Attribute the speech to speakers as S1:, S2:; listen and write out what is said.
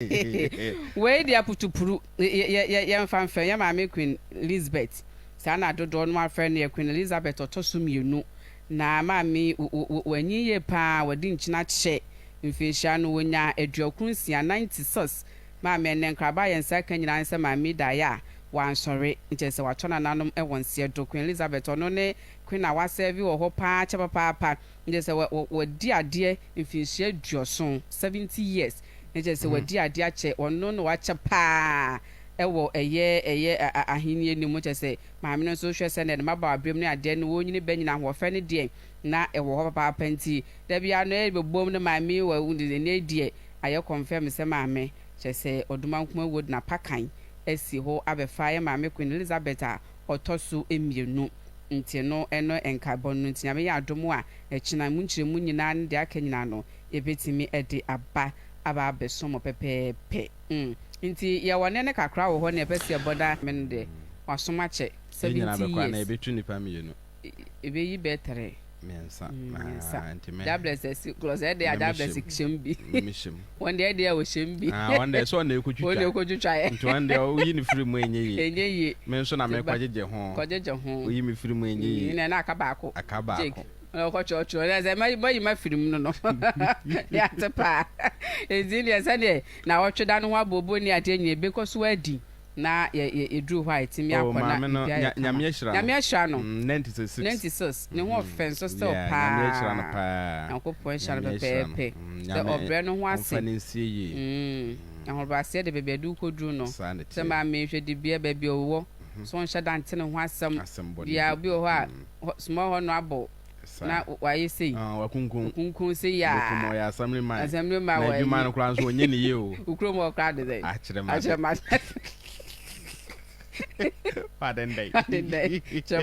S1: Wei deɛ putupuru. Yɛmfa mfɛ yɛn maame Queen Lizbeth, saa na dodoɔ no ara frɛ no, yɛ Queen Elizabeth ɔtɔ so mmienu. Na maame yi wanyin yie pa ara, wadi nkyena kyɛ, mfinhyia no ɔnyaa aduokron nsia, ninety six. Maame ɛnnɛ nkraba a yɛn nsa ka nyinaa ne sɛ maame yi da ayɛ a wansɔre, nkyɛ sɛ watɔ nananom wɔ nseɛ do. Queen Lizabeth ɔno ne Queen a wasɛɛve wɔ hɔ pa ara kyɛ papaapa. Na kyerɛ sɛ, wadi adeɛ mfinhyia aduɔson, seventy years, na kyerɛ sɛ wadi adeɛ akyɛ, ɔno na wakyɛ pa ara wɔ ɛyɛ, ɛyɛ ahennie no mu, kyerɛ sɛ, maame no nso hwɛ sɛdeɛ ne mmabaawa berɛm ne adeɛ no, wɔnyini bɛnyini, ahoɔfɛ no deɛ na ɛwɔ hɔ papaapa nti, da biara no ɛrebɛbom no, maame yi wɔ, ɛnnɛyi deɛ ayɛ confirm sɛ maame, kyerɛ sɛ, Odumankumah Wood na Pakan asi hɔ abɛfa yɛn maame Queen Elizabeth a. ɔtɔ so mmienu nti no ɛno nkaebɔ no nti Nyame yɛ adom a ɛkyena mu nkyerɛmu nyinaa ne deɛ aka nyinaa no yɛbɛtumi de aba aba abɛsom mo pɛpɛɛpɛ mm nti yɛwɔ nɛɛnɛ kakra wɔ hɔ na yɛpɛ sɛ yɛbɔ na Nyame no deɛ wasom akyɛ Yɛn nyinaa bɛkɔ anaa seventy years. yɛbɛtu nnipa mmienu.
S2: ebeyi
S1: bɛtɛrɛ mmiɛnsa
S2: mmiɛnsa dablɛs ɛsi kɔlɔs ɛde
S1: a dablɛs hyɛ mu bi wɔn
S2: deɛ ɛde a wɔhyɛ
S1: mu bi wɔn deɛ sɛ ɔna ekotwitwa
S2: ɔna ekotwitwa yɛ nti
S1: wɔn deɛ oyi ne firi
S2: mu enye yie enye yie mi
S1: nso na mi
S2: kɔgyegye ho kɔgyegye ho oyi mi firi mu enye yie ɛna aka baako aka
S1: baako ɔkɔ kyerɛkyerɛ ɛna sɛ ma yi ma firi mu no no yate paa ezi deɛ sɛ deɛ na ɔtwe da no ho abobo ne adeɛ nyɛ ebekɔ so adi. na yɛ yɛ yɛduru hɔ a yɛtumi Oh, akɔ na maame no, biribiara nya, yɛ kama. Nyame ahyira no.
S2: Nyame ahyira no.
S1: Mm, Nanti sɛ six. Nanti sis,
S2: ne ho Mhm. ɔfɛ nso
S1: still Yeah, paa. Nyame ahyira no paa.
S2: Nyankopɔn nhyira no Nyame
S1: ahyira no. pɛpɛɛpɛ. Mm, Sɛ Nyame ɔbrɛ no ho ase. ɔmfa no nsie yie. Mm, ahobrɛaseɛ de baabi a ɛde wo kɔduru no. Saa na Sɛ ɛteɛ. maame nhwɛ dibea baabi a ɔwɔ, so nhyɛ da nte ne ho asɛm. Asɛm bɔne biara. bi. Obi wɔ hɔ a, Mm. hɔ, small hɔ no abɔ na wayɛ sei, wakunkum sei a, asɛmdwe
S2: ma wɔ adwuma no
S1: koraa nso ɔnyɛ
S2: ne yie o, wo kurom hɔ koraa de sɛ
S1: akyerɛma
S2: akyerɛma akyerɛma